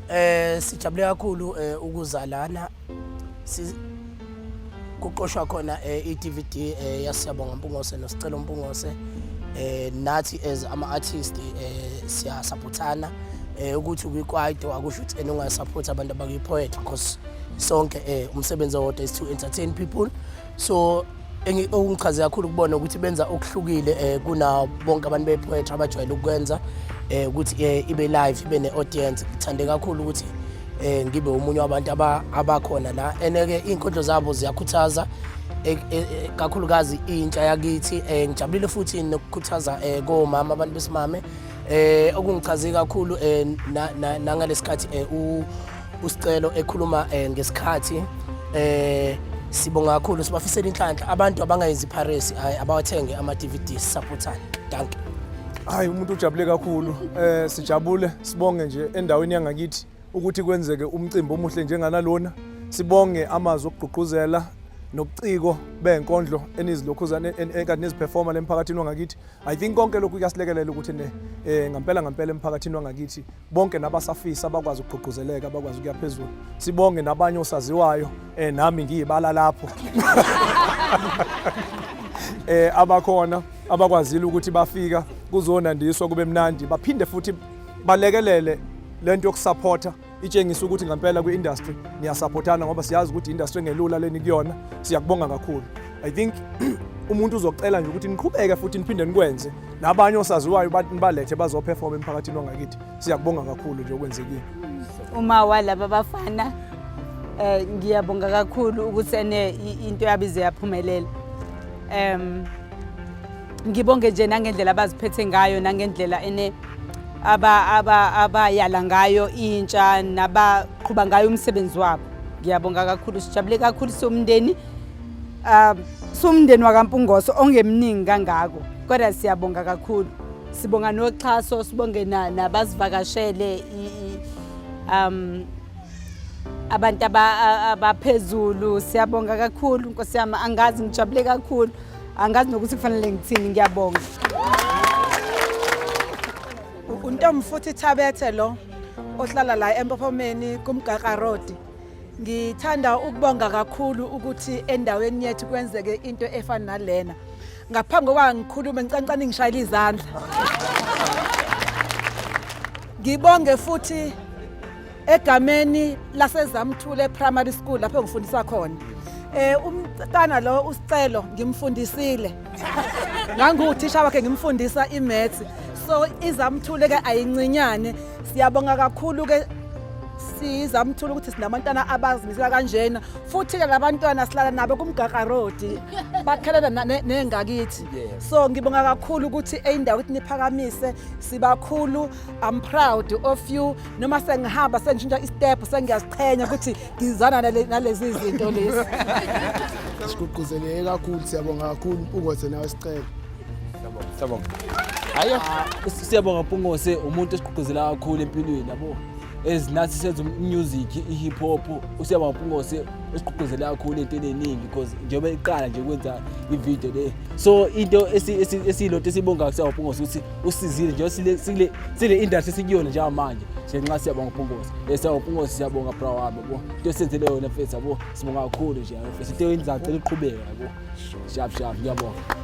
Eh sijabule kakhulu eh, ukuza lana kuqoshwa khona eh, i-DVD eh, yasiyabonga Mpungose noSicelo Mpungose eh nathi as ama artist eh siya supportana eh ukuthi kwikwaito akusho ukuthi enunga support abantu abakuyi poet because sonke eh umsebenzi owodwa is to entertain people so okungichaze kakhulu ukubona ukuthi benza okuhlukile um kuna bonke abantu bepoetry abajwayele ukukwenza um ukuthi um ibe live ibe ne-audience ngithande kakhulu ukuthi um ngibe omunye wabantu abakhona la and-ke iy'nkondlo zabo ziyakhuthaza e, e, e, kakhulukazi intsha yakithi um ngijabulile futhi nokukhuthaza um komama abantu besimame Eh okungichaze kakhulu eh nangalesikhathi eh usicelo ekhuluma eh, ngesikhathi eh sibonga kakhulu sibafisela inhlanhla abantu abangayenzi piracy hayi abawathenge ama DVD supportane danke hayi umuntu ujabule kakhulu eh sijabule sibonge nje endaweni yangakithi ukuthi kwenzeke umcimbi omuhle njenganalona sibonge amazwi okugqugquzela nobuciko benkondlo enizilokhuzana enkathi neziperforma lemphakathini wangakithi I think konke lokhu kuyasilekelela ukuthi ne eh ngampela ngampela emphakathini wangakithi bonke nabasafisa bakwazi ukugqugquzeleka bakwazi ukuya phezulu sibonge nabanye osaziwayo eh nami ngiyibala lapho eh abakhona abakwazile ukuthi bafika kuzonandiswa kube mnandi baphinde futhi balekelele lento yokusupporta itshengisa ukuthi ngempela kwi-industry niyasaphothana ngoba siyazi ukuthi industry engelula leni kuyona siyakubonga kakhulu i think umuntu uzocela nje ukuthi niqhubeke futhi niphinde nikwenze nabanye osaziwayo balethe bazoperform emphakathini wangakithi siyakubonga kakhulu nje okwenzekile uma walaba bafana eh ngiyabonga kakhulu ukuthi ene into yabize yaphumelela um ngibonge nje nangendlela abaziphethe ngayo nangendlela ene abayala ngayo intsha nabaqhuba ngayo umsebenzi wabo ngiyabonga kakhulu sijabule kakhulu siwumndeni um siwumndeni wakampungoso ongemningi kangako kodwa siyabonga kakhulu sibonga noxhaso sibonge nabasivakashele um abantu abaphezulu siyabonga kakhulu nkosi yami angazi ngijabule kakhulu angazi nokuthi kufanele ngithini ngiyabonga untombi futhi thabethe lo ohlala la empophomeni kumgaqa road ngithanda ukubonga kakhulu ukuthi endaweni yethu kwenzeke into efana nalena ngaphambi kokuba ngikhulume ngicancane ngishayela izandla ngibonge futhi egameni laseZamthule Primary School lapho ngifundisa khona eh umntana lo usicelo ngimfundisile nganguthisha wakhe ngimfundisa imaths so izamthule ke ayincinyane siyabonga kakhulu ke sizamthula ukuthi sinabantwana abazimisela kanjena futhi-ke labantwana silala nabo kumgaqa road bakhelela nengakithi so ngibonga kakhulu ukuthi eyindawo ukuthi niphakamise sibakhulu i'm proud of you noma sengihamba sengishintsha istep sengiyaziqhenya ukuthi ngizana nalezi zinto lezi sigqugquzeleke kakhulu siyabonga kakhulu mpungose nawe sicela siyabonga hayo ah, siyabonga mpungose umuntu esigqugquzela kakhulu empilweni yabo ezinathi senza umusic i-hip hop usiyabonga mpungose esigqugquzele kakhulu into eningi because njengoba iqala nje kwenza ividiyo le so into esiyilonto esiyibongayo kusiyabonga mpungose ukuthi usizile nje sile sile sile industry sikuyona nje manje nje nxa siyabonga uPungosi esa eh, uPungosi siyabonga bra wami yabo into esenzele yona mfethu yabo sibonga kakhulu nje mfethu into yenza cela uqhubeke yabo shap shap ngiyabonga